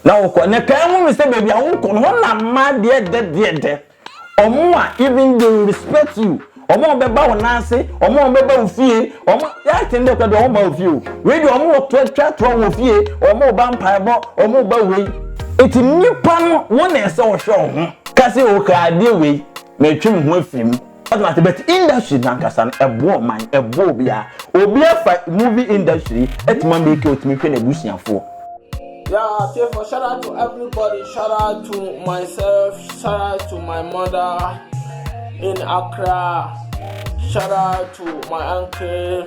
na wokɔ na kan mu sɛ baabi a wokɔ no hɔ na mma deɛ dɛ deɛ dɛ ɔmo a even they will respect you ɔmo a ɔbɛba wɔn ase ɔmo a ɔbɛba wo fie ɔmo yɛaten dɛ kura deɛ ɔmo ba wo fie o wei deɛ ɔmo wɔ toa twa toa wɔ fie ɔmo ba mpaebɔ ɔmo ba wei eti nipa no wɔn na ɛsɛ ɔhwɛ ɔho kasi o kaa adeɛ wei mɛtwam ho afiri mu. ɔde ma te but industry nankasa no ɛboɔ ɔman ɛboɔ obiara obi afa movie industry ɛtumi ama eke otumi hwɛ n'abusuafoɔ. Yeah, therefore, shout out to everybody. Shout out to myself. Shout out to my mother in Accra. Shout out to my uncle.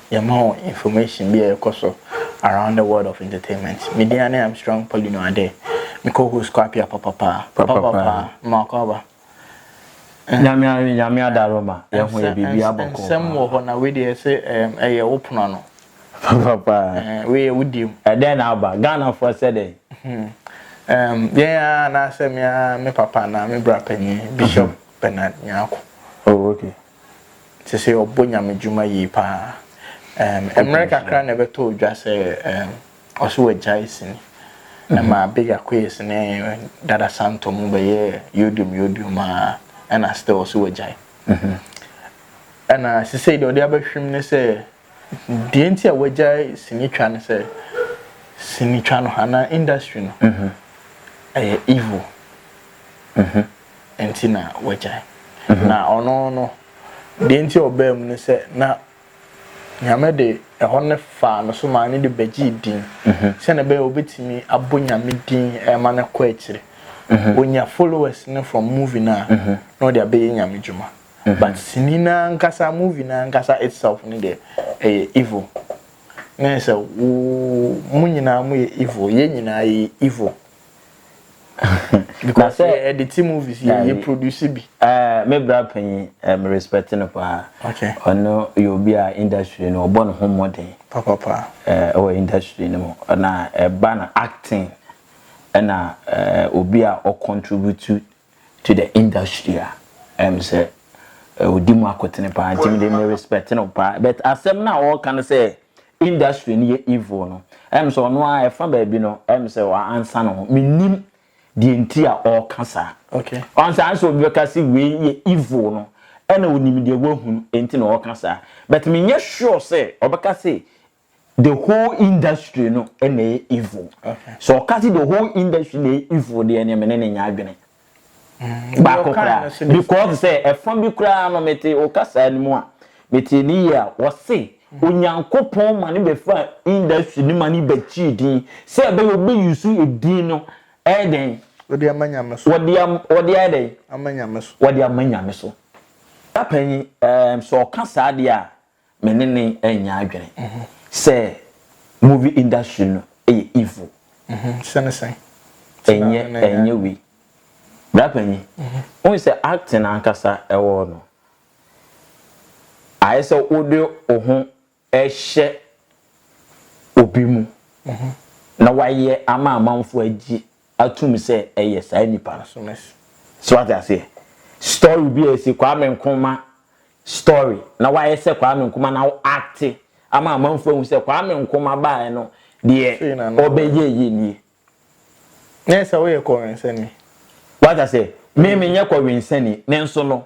Yɛma wo information bi a ɛkɔ so around the world of entertainment. Me din ane Armstrong Paulino Adeh. Me co host kɔ apia papa paa. Papa paa. Mma kɔ aba. Nyame awe nyame adaro ma yɛho yɛ biribi abɔ kɔɔ paa. Nsɛm wɔ hɔ na wei deɛ ɛse ɛyɛ wo pono ano. Papa paa. Wei yɛ wo deɛm. Ɛdɛn na aba? Ghana foɔ sɛ dɛn? Ehm yɛn aa anaasɛ me aa me papa anaa me bra panyin Bishop Bernard Nyarko. Oh okay. te sɛ ɔbɔ Nyame dwuma yie paa. Ɛɛm, mmerɛ kakra na ɛbɛtɔ odwa sɛ ɛɛm, ɔse wagyae sini. Ɛma Big Akoyes ne Dada Santo mo bɛyɛɛ yodium yodium aa, ɛna still ɔse wagyae. Ɛna sesei deɛ ɔde aba hwim ne sɛ Deɛ nti a wɔagyae sinitwa ne sɛ, sinitwa no anaa industry no, ɛyɛ evil. Nti na wɔagyae. Na ɔno no, deɛ nti a ɔbaa mu ne sɛ, na Nyame de ɛhɔ no faa no so maa no de bɛgyee din, sɛdeɛ ɛbɛyɛ a wɔbɛtumi abɔ Nyame din ma no akɔ akyire. Wɔnya followers no from movie no a, na wɔde abɛyɛ Nyame dwuma. But sini no ankasa movie no ankasa itself no deɛ ɛyɛ evil na yɛ sɛ wo mo nyinaa mo yɛ evil yɛ nyinaa yɛ evil because yɛ ɛde ti movies yɛ yɛ produce bi. Ɛɛ me bra panyin ɛɛ me respect no paa. Okay. Ɔno yɛ obi a industry no ɔbɔ ne ho mmɔden. Papapa. Ɛɛ ɛwɔ industry no mu na ɛba na acting ɛna ɛɛ obi a ɔcontribute to the industry a ɛm sɛ ɔdi mu akotene paa nti mede me respect no paa but asɛm no a ɔreka no sɛ industry no yɛ evil no ɛm sɛ ɔno ara ɛfa baabi no ɛm sɛ ansa no ho menim deɛ nti a ɔreka saa okay ɔnsa ansa obi bɛka sɛ wei yɛ evil no ɛna onim deɛ wahunu nti na ɔreka saa but menyɛ sure sɛ ɔbɛka sɛ the whole industry no na ɛyɛ evil so ɔka sɛ the whole industry na ɛyɛ evil deɛ ne mene ne nyɛ adwene mm. baako koraa because sɛ ɛfa bi koraa no mete wo kasaa no mu a mete ne yie a wɔse mm. onyankopɔn ma ne bɛfa industry no ma ne bɛkyii din sɛ ɛbɛyɛ ɔbɛyi so ɛdin no ɛyɛ dɛn wɔde ama nyame so wɔde ayɛ dɛn ama nyame so wɔde ama nyame so apanyi sɛ ɔka saa deɛ a Me ne ne nyɛ adwene mhm. sɛ movie industry no yɛ evil. Mhm. Sɛne sɛn? Ɛnyɛ ɛnyɛ wei. Brapanyi, mhm. wohu sɛ acting ankasa ɛwɔ no ayɛ sɛ wode wo ho ɛhyɛ obi mu na wayɛ ama amanfo agye atum sɛ ɛyɛ saa nipa no so no so so wate aseɛ story bi a ɛsi Kwame Nkrumah story na wayɛ sɛ Kwame Nkrumah na wo acte ama amanfoɔ ahu sɛ Kwame Nkrumah baeɛ no deɛ Sei na na ɔbɛ yɛ yɛ nie Na ɛsɛ woyɛ kɔwensani. wate aseɛ me menyɛ kɔwensani nanso no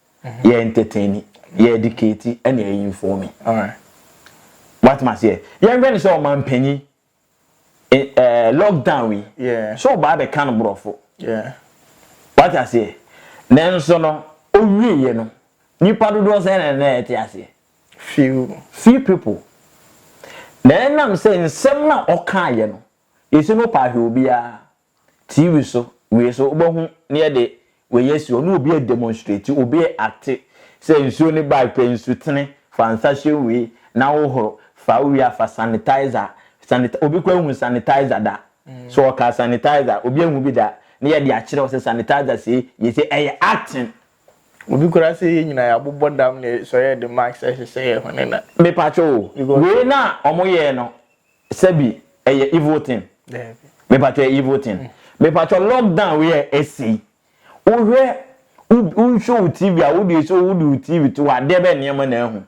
yɛ entertaini yɛ edikati ɛna yɛ infɔmi wate ma seɛ yɛnhwɛ ne sɛ ɔmanpanyi ɛɛ lockdown wi so ɔbaa bɛ ka no borɔfo wate aseɛ nanso no owie yɛ no nipa dodoɔ sɛ na ɛna ɛte aseɛ few few people na ɛnam sɛ nsɛm na ɔka yɛ no yɛsi no paa hwɛ obiara TV so wei so wobɛhu na yɛde wei asi hɔ na obi redemonstrate, obi reacte sɛ nsuo no bae pɛ nsutene, fa nsa hyɛ wei na wohoro, fa wowie a fa sanitizer, sanit obi koraa nhuu sanitizer da, sɛ ɔkaa sanitizer obi ahu bi da na yɛde akyerɛ wo sɛ sanitizer sei yɛ sei, ɛyɛ acting. Obi koraa sɛ yɛn nyinaa yɛabobɔ dam na sɛ ɔyɛ de mask hyehyɛ yɛn hwene na. Mepakyɛ o, wei no a wɔyɛɛ no Sɛbi ɛyɛ evil thing. Daabi. Mepatwɔ ɛyɛ evil thing. Mm. Mepatwɔ lockdown wei a ɛsi. Wohwɛ wohwɛ wo TV a wode so wode wo TV to adeɛ bɛ nneɛma na ahu.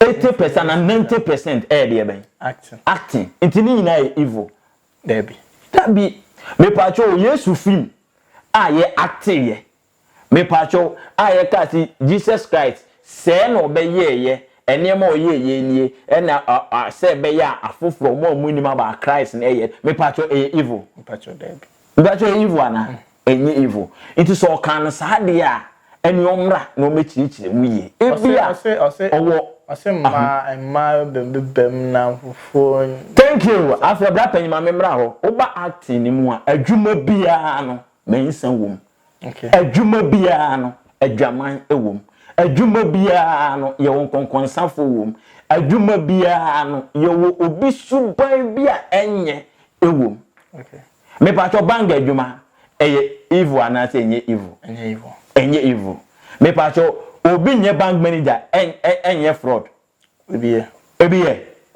80% na 90% ɛyɛ deɛ bɛn? Acting. Acting. Nti ne nyinaa yɛ evil. Daabi. Daabi. Mepatwɔ Yesu film a yɛ acting yɛ. Mepakyɛw, a yɛkaa se Jesus Christ sɛɛ na ɔbɛyɛɛeɛ, nneɛma a ɔyɛɛeɛ nie, ɛna a a sɛ ɛbɛyɛ a afoforɔ, mo a mo nnim about Christ no ɛyɛ, mepakyɛw ɛyɛ evil? Mepakyɛw, daabi. Mepakyɛw ɛyɛ evil anaa? Ɛnyɛ evil. Nti sɛ ɔkaa no saa deɛ a, ɛne ɔmmra na ɔmmɛkyerɛkyerɛ mu yie. Ɔse, Ebia ɔse, ɔse, ɔwɔ ɔse mmaa, mmaa bɛ bɛ bɛm na afoforɔ n. Thank you. Afei bra panyin ma me mmra hɔ. Woba acting no mu a, adwuma biara no, mansa wɔ mu. Adwuma biara no, adwaman wom. Adwuma biara no, yɛwɔ nkɔnkɔnsafo wom. Adwuma biara no, yɛwɔ obi suban bi a ɛnyɛ wom. Mepaatwɔ bank adwuma, ɛyɛ evil anaasɛ ɛnyɛ evil? Ɛnyɛ evil. Mepaatwɔ obi nyɛ bank manager, ɛnyɛ fraud? Ebiɛ. Ebiɛ.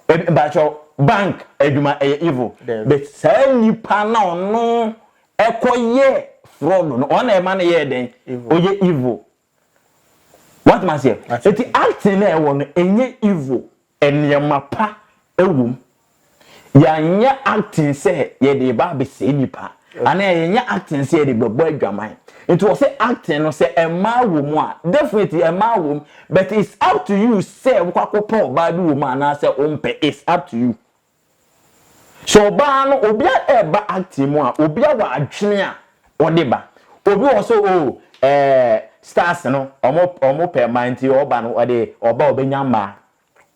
Ebi mpakyɛw bank adwuma ɛyɛ evil. Dɛbi. But saa nipa na ɔno ɛkɔ yɛ fraud no ɔna ɛma no yɛɛ dɛn? Evil. Ɔyɛ evil. Wate maseɛ? Eti acting na ɛwɔ no ɛnyɛ evil. Nneɛma pa ɛwom. Yɛanyɛ acting sɛ yɛde reba abɛsɛe nnipa anaa yɛnyɛ acting sɛ yɛde bɛbɔ adwaman. Nti wɔ se acting no sɛ mmaa wɔ mu a, definitely mmaa wɔ mu but it's up to you sɛ wokɔ akɔpɛ ɔbaa bi wɔ mu anaa sɛ wompɛ, it's up to you. Sɛ ɔbaa no obi a ɛreba acting mu a, obi a wɔ adwene a ɔde ba. Obi wɔ hɔ sɛ oh eh stars no wɔpɛ mmaa nti ɔba no ɔde ɔba a ɔbɛnya mmaa.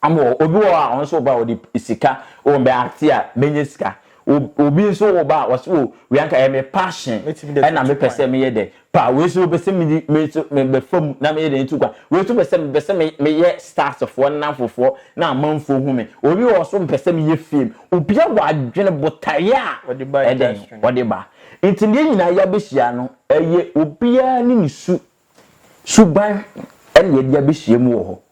Ama wɔ obi wɔ hɔ a ɔno nso ɔba a ɔde sika wɔ mbɛ ate a mɛnyɛ sika obi nso wɔ ba a ɔsɛ wɔ wia nka ɛyɛ me passion ɛna me pɛ sɛ meyɛ dɛ pa wei nso bɛ sɛ me di me nso me bɛ fam na meyɛ dɛ ntu kwa wei nso bɛ sɛ me bɛ sɛ me meyɛ stars foɔ na fofoɔ na amanfoɔ hu me obi wɔ so mpɛ sɛ meyɛ fame obi a wɔ adwene botaeɛ a ɛdɛn ɔde ba nti deɛ nyinaa yɛ abɛhyia no ɛyɛ obiara ne ne su suban ɛna yɛde abɛhyia mu wɔ hɔ.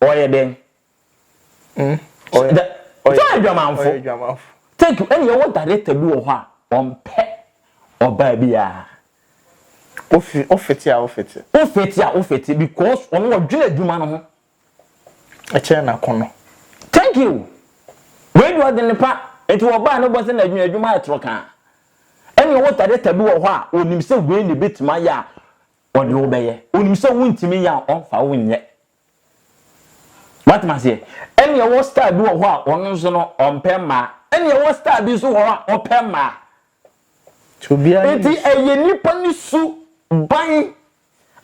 Ɔyɛ dɛn? Ɔyɛ adwamanfo. Thank you. Ɛna yɛwɔ director bi wɔ hɔ a, ɔmpɛ ɔbaa biara. Wofete a wofete. Wofete a wofete because ɔno ɔdwene adwuma no ho. Ɛkyɛn n'akɔnnɔ. Thank you. Wei deɛ ɔde ne pa. Nti ɔbaa no bɔ sɛ n'adwene adwuma ayɛ toro kaa. Ɛna yɛwɔ director bi wɔ hɔ a, ɔnim sɛ wei na ɛbɛtumi ayɛ a, ɔde wo bɛyɛ. Ɔnim sɛ wontumi nyɛ a, ɔmfa wo nyɛ. Woate m'aseɛ? Ɛne ɛwɔ star bi wɔ hɔ a ɔno nso no ɔmpɛ mmaa. Ɛne ɛwɔ star bi nso wɔ hɔ a ɔpɛ mmaa. Eti ɛyɛ nipa ne su ban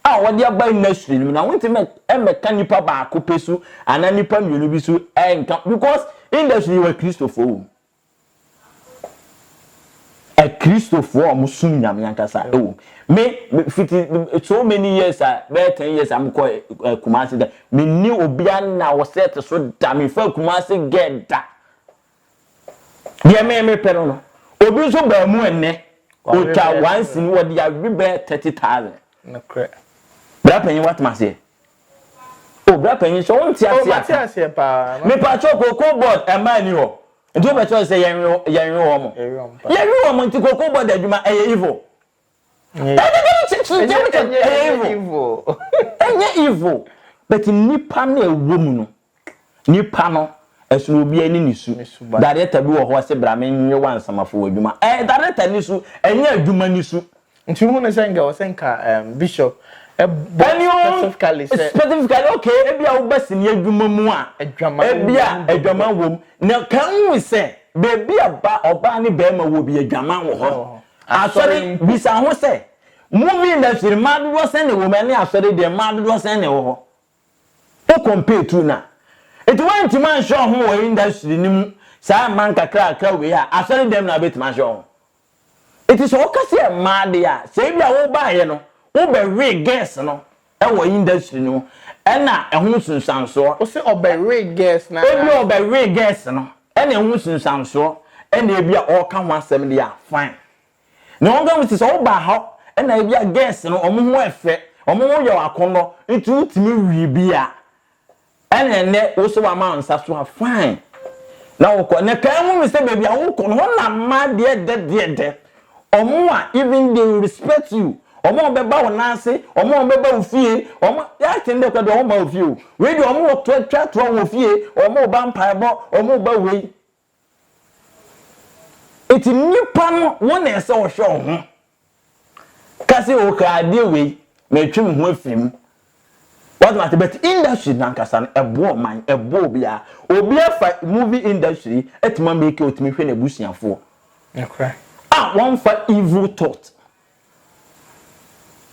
a wɔde aba industry no mu na wontumi mmɛka nipa baako pɛ su anaa nipa mmienu bi su ɛnka because industry wɔ Kristofoɔ wɔ mu. Akristofoɔ a wɔsom Nyame ankasa wom. Me, me fiti so many years a bɛyɛ ten years a mekɔ eh, Kumasi da menni obia na ɔsɛ te so da mefa Kumasi gɛ da deɛ me mepɛ no no obi nso baa mu ɛnnɛ ɔtwa wansi no wɔde awe bɛyɛ thirty thousand. Nokorɛ. Bra panyin watoma aseɛ. Oh bra panyin sɛ wonte aseɛ a ka me pakyɛw cocoa board ɛmaa ni hɔ nti wopɛ kyɛw sɛ yɛnwe wɔn mo yɛwe wɔn mo nti cocoa board adwuma ɛyɛ evil ɛyɛ evil ɛnyɛ evil but nipa na ɛwɔ mu no Nipa no, ɛsono obiara ne ne su. Darekta bi wɔ hɔ ɔse bra me nwe wo ansa mafa w'adwuma. Ɛyɛ darekta ne su, ɛnyɛ adwuma ne su. Nti wohu no sɛ nka ɛwɔ sɛ nka bishop bɔ specifically sɛ. Specifically okay ebia woba sini adwuma mu a ebia adwaman wɔ mu. Na kan hu sɛ baabi a ba ɔbaa ne barima wɔ bi adwaman wɔ hɔ. Asɔre bisa ho sɛ movie industry mmaa dodoɔ sɛn na ɛwɔ mu ɛne asɔre deɛ mmaa dodoɔ sɛn na ɛwɔ hɔ. Wo compare tu no a. Nti woantumi anhwɛ wo ho wɔ industry no mu saa mma nkakrakra wei a, asɔre dɛm na wobɛtumi ahwɛ wo ho? Nti sɛ woka sɛ mmaa deɛ a, sɛ ebi a wobaeɛ no wobɛwee girls no wɔ industry no mu ɛna ɛho nsunsuansoɔ. Wo se ɔbɛwee girls no anaa? Ebia ɔbɛwee girls no ɛna ɛho nsunsuansoɔ ɛna ebi a ɔreka ho asɛm deɛ a, fine. Nea wɔnka ho si sɛ woba ha na ebia girls no wɔn ho yɛ fɛ, wɔn ho yɛ akɔnnɔ nti wotumi we bi a, ɛna ɛnnɛ wo nso wama wo nsa so a, fine. Na wokɔ. Na kae ho no sɛ baabi a wokɔ no, hɔ na mmaa deɛ dɛ deɛ dɛ. Wɔn a even they will respect you. Wɔn a wɔbɛba wo nan ase, wɔn a wɔbɛba wo fie, wɔn a yɛ aten dɛ koraa deɛ wɔn mma wo fie o. Wei deɛ wɔn wɔ twa toa wɔ fie, wɔn ba mpaebɔ, wɔn ba wei. Enti nnipa no wɔn na ɛsɛ wɔhwɛ wɔn ho ka sɛ o ka adeɛ wei metwe me ho afiri mu wate mate but industry nankasa no ɛboɔ ɔman ɛboɔ obiara obiara fa movie industry atumi ameke otumi hwɛ n'abusuafoɔ a wɔmfa evil thought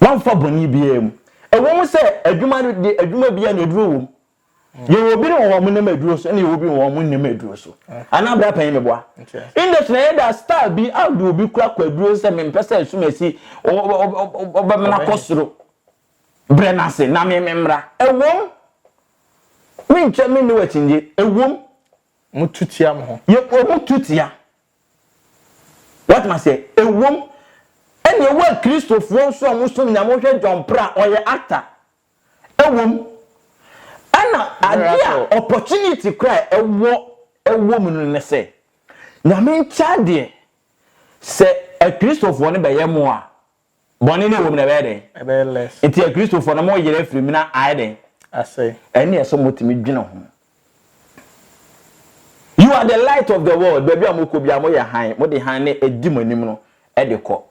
wɔmfa bɔne biara mu ɛwɔ mu sɛ adwuma no de adwuma biara na aduro wɔ mu yɛwɔ bi no wɔ wɔn nneɛma aduro so ɛna yɛwɔ bi wɔ wɔn nneɛma aduro so ana abira pɛn mi boa industry na yɛ da star bi adi obi kura kɔ aduro sɛ mi mpɛ sɛ esum esi ɔbɛ mi na kɔ soro brɛ n'ase na mi mi mmra ɛwom mi nkyɛn mi ne wɔ akyinye ɛwom. mo tu tia mo ho. yɛ wɔn tu tia wɔtuma sɛ ɛwom ɛna ɛwɔ akristofoɔ nso a wɔn som nyame wɔhwɛ john pra ɔyɛ actor. ɛwom ɛna adeɛ a opportunity koraa a ɛwɔ ɛwɔ mu no ne sɛ Nyame nkyɛ adeɛ sɛ akristofoɔ no bɛyɛ mo a bɔne no ɛwɔ mu no ɛbɛyɛ dɛn? ɛbɛyɛ less nti akristofoɔ no mo yere afiri mu na ayɛ dɛn? asɛe ɛneɛ sɛ mo tumi dwene ho You are the light of the world baabi a mo kɔ biara mo yɛ hann mo de hann no ɛdi mo anim no ɛde kɔ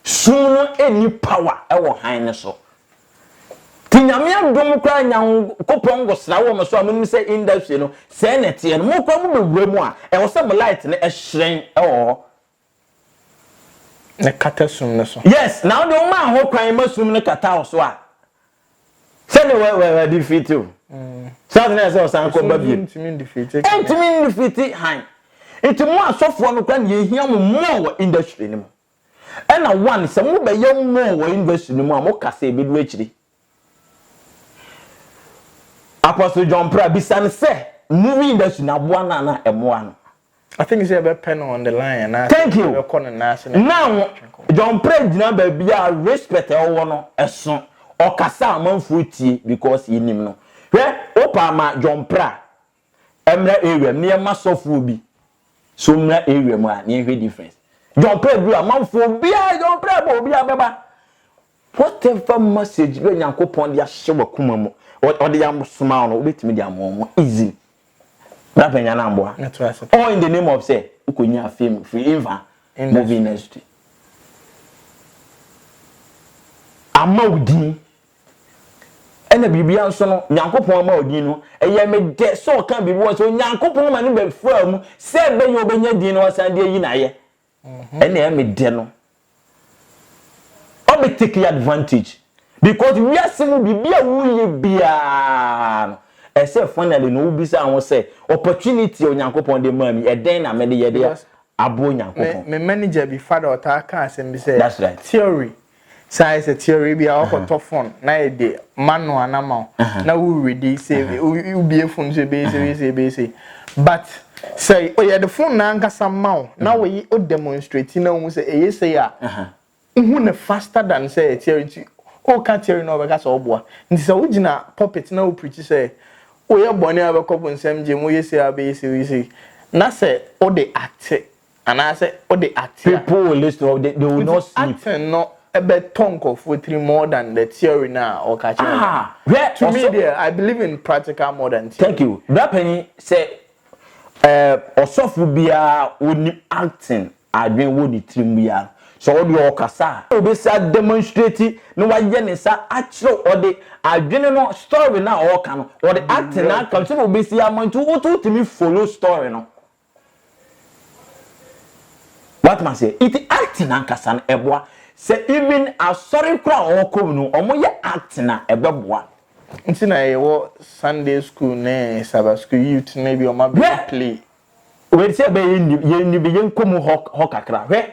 Sum no nni power wɔ hann no so. Nti Nyame adom koraa Nyankopɔn ngosra wɔ mo so a monim sɛ industry no sɛɛ na ɛteɛ no, mo koraa mo bɛwura mu a ɛwɔ sɛ mo light no hyerɛn wɔ hɔ. Na ɛkata sum no so. Yes, na wo deɛ wo maa ho kwan ma sum no kataa wo so a, sɛne wadefeate o saa tena sɛ ɔsan kɔ ba biem ntumi ndefeate han nti mo asɔfoɔ no kora ne yɛhia mo mmɔɔ wɔ industry no mu ɛna one sɛ mobɛyɛ mmɔɔ wɔ industry no mu a moka sɛ ɛbɛdu akyiri apostle john pra bisa no sɛ movie industry no aboa no ana ɛmoa no I think sɛ yɛbɛpɛ no on the line anaasɛ Thank you. yɛbɛkɔ no nan ase na Now, yɛatwe nkɔmmɔ. John Prɛ gyina baabi a respect a ɔwɔ no ɛso. Ɔkasa a amanfoɔ tie because yɛnim no. Hwɛ, wopɛ a ma John Prɛ a ɛmmra area mu na yɛmma sɔfoɔ bi so mmra area mu a na yɛnhwɛ difference. John Prɛ duru a amanfoɔ obiara John Prɛ bɔ obiara bɛba. Whatever message bia Nyankopɔn de ahyɛ w'akoma mu, ɔde asoma wo no, wobɛtumi de ama wɔn easily. Bra pɛnya no amboa. All in the name of sɛ wokɔnya fame free infa movie industry. Ama wo din. Ɛna biribia nso no, Nyankopɔn ama wo din no, ɛyɛ me dɛ sɛ ɔka biribi wɔ sɛ Onyankopɔn ma no bɛfaa mu sɛ ɛbɛyɛ ɔbɛnya din na wasan de ayi n'ayɛ. ɛna ɛyɛ me dɛ no ɔbɛ take advantage because wiase mu biribi a woyɛ biara no ɛsɛ finally no wobisa ho sɛ opportunity a onyankopɔn de maa mi ɛdɛn na mede yɛde aboa onyankopɔn. me manager bi father ɔtaa ka asɛm bi sɛ theory Sɛ ayɛ sɛ tiare bi a ɔkɔtɔ fon na yɛ de manu anama o na wuri di sɛ wubie fon sɛ bɛyɛ sɛ bɛyɛ sɛ bɛyɛ sɛ but sɛ ɔyɛ de fon na ankasa ma o na wɔyi o demonstrate na ohun sɛ ɛyɛ sɛ a ohun ne faster than sɛ yɛ tiare nti ɔka tiare na ɔbɛka sɛ ɔboa nti sɛ wogyina pulpit na wopirikyi sɛ woyɛ bɔne a bɛkɔ bonsam gye mu yɛ sɛ a bɛyɛ sɛ yɛ sɛ na sɛ wode ate Anaasɛ wode ate a. People will listen or they, they will not sleep. Nti Aten no ɛbɛtɔ nkurɔfoɔ tiri more than the theory no a ɔka kyerɛ wɔn. Ah, hwɛ To me ɔsɔ. deɛ, I believe in practical more than theory. Thank you. Brapanyin sɛ ɛɛ ɔsɔfo biara onim Aten adwene wɔ ne tirim biara no, sɛ ɔde ɔkasa a, obesi a demonstrate na wayɛ ne nsa akyerɛ ɔde adwene no story no a ɔreka no, ɔde Aten no aka no sɛdeɛ obesi ama nti wotumi follow story no. Woatumi aseɛ? Nti acting ankasa no ɛboa. Sɛ even asɔre koraa a wɔkɔ mu no wɔyɛ acting a ɛbɛboa. Nti na yɛwɔ Sunday school ne Sabbath school youth no bi wɔn abɛyɛ play. Wei sɛ ɛbɛyɛ nni yɛn nni bi yɛnkɔ mu hɔ hɔ kakra hwɛ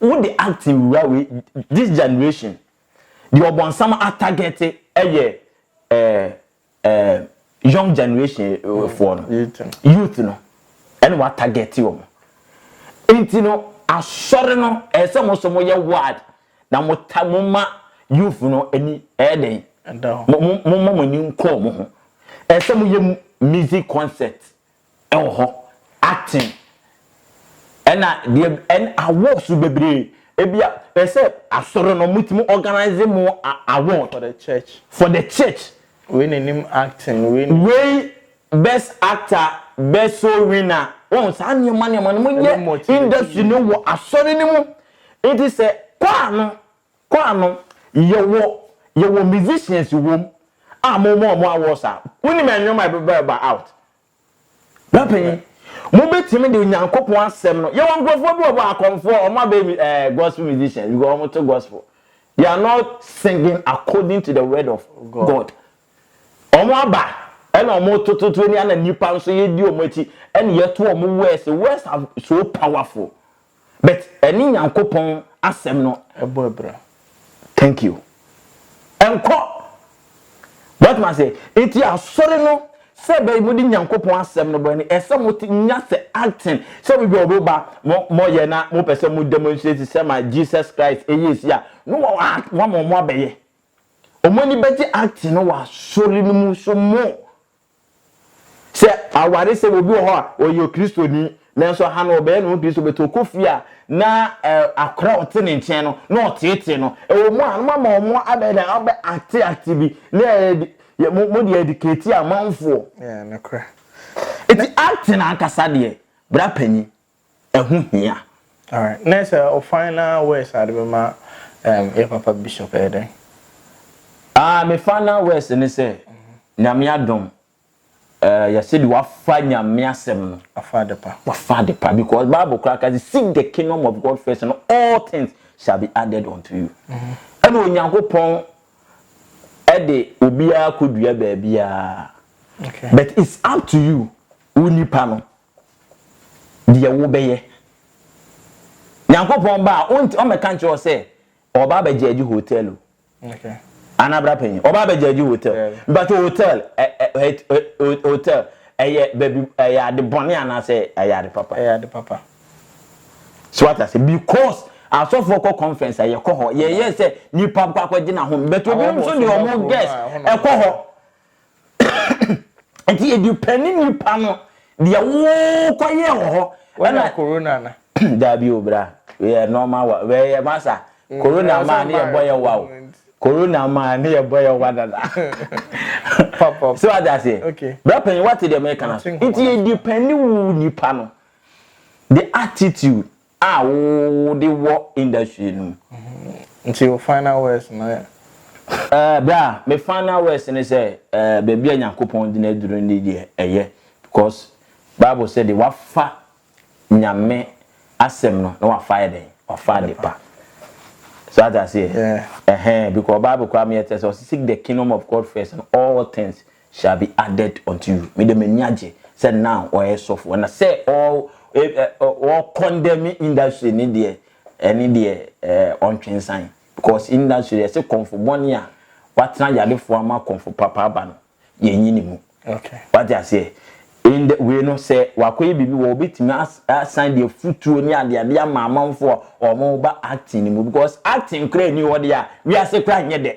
wode acting wura wei this generation deɛ ɔbɔnsam atarget yɛ ɛɛ eh, young generation eh, mm, foɔ no youth no ɛne watagɛte wɔ mo nti no asɔre no ɛyɛ sɛ mo nso moyɛ ward na mota moma youth no ani ɛyɛ dɛn moma mo ani nkɔɔ mo ho ɛyɛ sɛ moyɛ music concert wɔ hɔ aten ɛna deɛ ɛn awards bebree ebia ɛsɛ asɔre no mo tumi organize mo award for the church for the church wei na nim acting wei na wei best actor best soul winner wɔn saa nneɛma nneɛma no mo yɛ industry no wɔ asɔre no mu nti sɛ kwaa no Kɔ ano, yɛwɔ yɛwɔ musicians wom a mo ma ɔmo awards a wonim ɛnwom a ɛbɛba ɛba out. Bra panyin, mo bɛtumi de Onyankopɔn asɛm no, yɛwɔ nkorɔfoɔ bi wɔ hɔ akɔmfoɔ ɔmo abɛyɛ mi ɛɛ gospel musicians because ɔmo to gospel, they are not singing according to the word of God, ɔmo aba ɛna ɔmo to to to ɛni ɛna nipa nso yɛdi ɔmo akyi ɛna yɛto ɔmo words, words are so powerful. But ɛne Nyankopɔn asɛm no. Ɛbɔ abira. Thank you. Ɛnkɔ. W'atumi ase? Nti asɔre no sɛ ɛbɛyɛ mo de Nyankopɔn asɛm no bɔ no, ɛsɛ mo te nya sɛ acting sɛ obi bɛ obi ba mo mo yɛ na mo pɛ sɛ mo demonstrate sɛ ma Jesus Christ ɛyɛ esi a no wɔ wɔn mo abɛyɛ. Wɔn ani bɛgye acting no wɔ asɔre no mu so mo. Sɛ awaresɛm, obi wɔ hɔ a ɔyɛ Okristoni, nanso ha no ɔbɛyɛ ne ho Kristo, but ɔkɔ fie a na akora a ɔte ne nkyɛn no na ɔteetee no. Ɛwɔ mu a, na moama wɔn abɛyɛ dɛn? Abɛ acte acte bi, na yɛ mo mo de educate amanfoɔ. Yeah, nokorɛ. Nti acting ankasa deɛ, bra panyin, ɛho hia. Alright na sɛ wo final words a wode bɛma yɛ papa bishop ɛyɛ dɛn? Ah me final words ne sɛ Nyame adom eh yɛ sɛdeɛ wafa Nyame asɛm no Wafa adepa. wafa adepa because bible koraa ka sɛ seek the kingdom of God first and all things shall be added unto you ɛna Onyankopɔn ɛde obiara kɔdua baabiara Okay. but it's up to you wo nipa no deɛ wobɛyɛ. Nyankopɔn ba a, wonti ɔmmɛka nkyerɛ wo sɛ ɔba abɛgyaagye hotel o. Anaa bra panyin, ɔba abɛgyaagye hotel. Mpakyɛ hotel, ɛ ɛ ɛ ɛ hotel, ɛyɛ baabi, ɛyɛ ade bɔne anaasɛ ɛyɛ ade papa? Ɛyɛ ade papa. So wate aseɛ? Because asɔfoɔ kɔ conference a, yɛkɔ hɔ. Yɛyɛ sɛ nipa kɔ akɔgye n'ahome. But ebinom nso deɛ wɔn guest ɛkɔ hɔ. Nti edu pɛ ne nipa no deɛ wokɔyɛ wɔ hɔ. Wanya corona na. Daabi o bra yɛ normal wa wɛ yɛ masa mm, corona ma ne yɛ bɔ yɛ wa o corona ma ne yɛ bɔ yɛ wa dada. So adi aseɛ bra panyin wate deɛ mɛka na so nti edu pɛ ne wu nipa no the attitude. a wo de wɔ industry no mu. Nti your final words no yɛ? Eh, bra, me final words ne sɛ, eh, baabi a Nyankopɔn de no aduru ne deɛ ɛyɛ. Because Bible sɛ deɛ wafa Nyame asɛm no na wafa ayɛ dɛn? Wafa adepa. So ate aseɛ? Yeah. Ɛhɛn, because Bible koraa meyɛ tɛ sɛ ɔse seek the kingdom of God first and all things shall be added unto you me de m'ani agye sɛ now ɔyɛ sɔfo ɛna sɛ all all condemn industry ne deɛ ɛne deɛ ɛɛ ɔntwensan because industry deɛ ɛsɛ kɔnfo bɔne a watena yadefoɔ ama kɔnfo papa aba no yɛn nyi ne mu okay wate aseɛ in the way no sɛ wakɔyɛ biribi wɔ obetumi asan deɛ futuo ne adeade ama amanfoɔ a wɔn ba acting ne mu because acting koraa ni hɔ deɛ a wiase koraa nyɛ dɛ.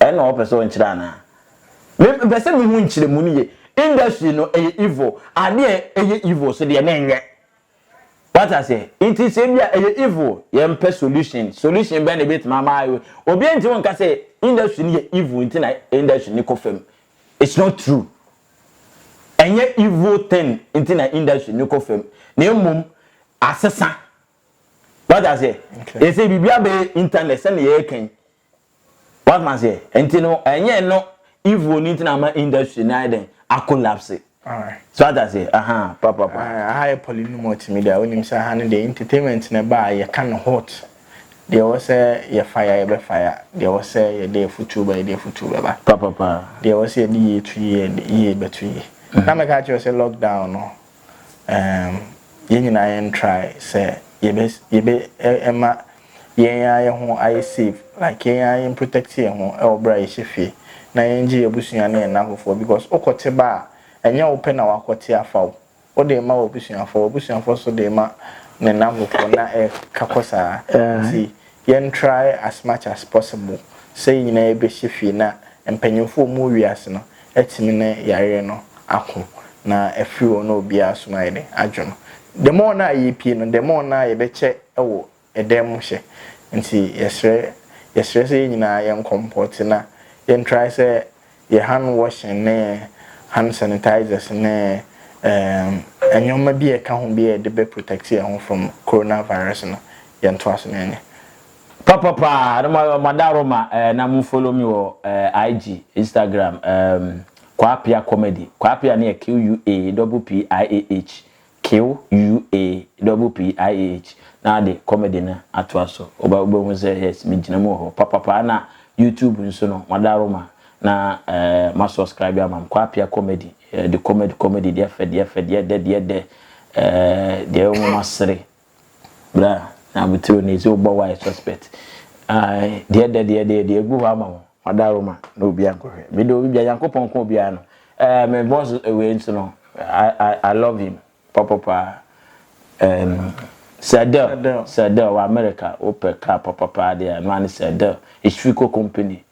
Ɛno na wɔpɛ sɛ wɔkyerɛ anaa? Me mepɛ sɛ mehu nkyerɛmu no yie. Industry no ɛyɛ evil. Adeɛ a ɛyɛ evil so deɛ menyɛ. Wate aseɛ? Nti sɛ ebi a ɛyɛ evil, yɛmpɛ solution. Solution bɛn na ebetumi ama ayɛ wei? Obiara ntumi nka sɛ industry no yɛ evil nti na industry no kɔ fam. It's not true. Ɛnyɛ evil thing nti na industry no kɔ fam. Na mmom asesa. Wate aseɛ? Ɛsɛ biribi abɛyɛ internet sɛdeɛ yɛreka yi. Wate aseɛ? Nti no ɛnyɛ no evil no nti na ama industry no ayɛ dɛn akolapse. So wate aseɛ? Aha papapa. Aha yɛ pɔli no multimedia wonim sɛ aha no deɛ entertainment na ɛba a yɛka no hot. Deɛ ɛwɔ sɛ yɛfa ya yɛbɛfa ya. Deɛ ɛwɔ sɛ yɛde afutuo ba yɛde afutuo bɛba. Papapa. Deɛ ɛwɔ sɛ yɛde yie to yie yɛde yie bɛto yie. Na mɛka kyerɛ sɛ lockdown no. Ɛɛm, yɛn nyinaa yɛn try sɛ yɛbɛ yɛbɛ ɛma yɛn ara yɛn ho ayɛ safe like yɛn ara yɛn protect yɛn ho ɛwɔ bere a yɛhyɛ fie na yɛn gye yɛn abusua ne yɛn nnanfofoɔ because wo kɔ te ba a ɛnyɛ wo pɛ na wakɔ te afa wo wo de rema w'abusuafoɔ w'abusuafoɔ nso de rema ne nnanfofoɔ na ɛka kɔ saa nti Yɛn try as much as possible sɛ yɛn nyinaa yɛbɛhyɛ fie na mpanyinfoɔ a wɔwɔ wiase no atumi ne yareɛ no ako na afiri hɔ na obiara nso no ayɛ dɛn adwo no. The more no a yɛpie no the more no a yɛbɛkyɛ wɔ ɛdan mu hyɛ nti yɛsrɛ yɛsrɛ sɛ yɛn nyinaa yɛn kɔmpɔte na yɛn try sɛ yɛ hand washing ne hand sanitizers ne ɛɛm nnoɔma bi a ɛka ho bi a yɛde bɛ protect yɛn ho from corona virus no yɛn to ase na yɛnyɛ. Papa paa na mo mo adaworo ma eh, na mo follow me wɔ eh, IG Instagram eh, Kwapia comedy Kwapia no yɛ QUA double PIAH Q-U-A-P-P-I-A-H na ade comedy no atoa so. Wobɛhu sɛ yes megyina mu wɔ hɔ papapa ɛna YouTube nso no mada Roma na ma suscribe ama me Kwaa Appiah comedy the comedy comedy deɛ fɛ deɛ fɛ deɛ dɛ deɛ dɛ deɛ ɛwɔ mu masere Bra na abotire na ezi wo bɔ why suspect. Ae deɛ dɛ deɛ deɛ deɛ egu hɔ ama wo. Wada Roma na obi ankɔhwɛ. Me de obi bia Nyankopɔn nko obiara no. Eh me boss wei nso no I I I love him pɔpɔ paa. Ehm Sir Del Sir Del wɔ America wopɛ car pɔpɔ paa deɛ a ɛno ara ne Sir Del. Eshifiko company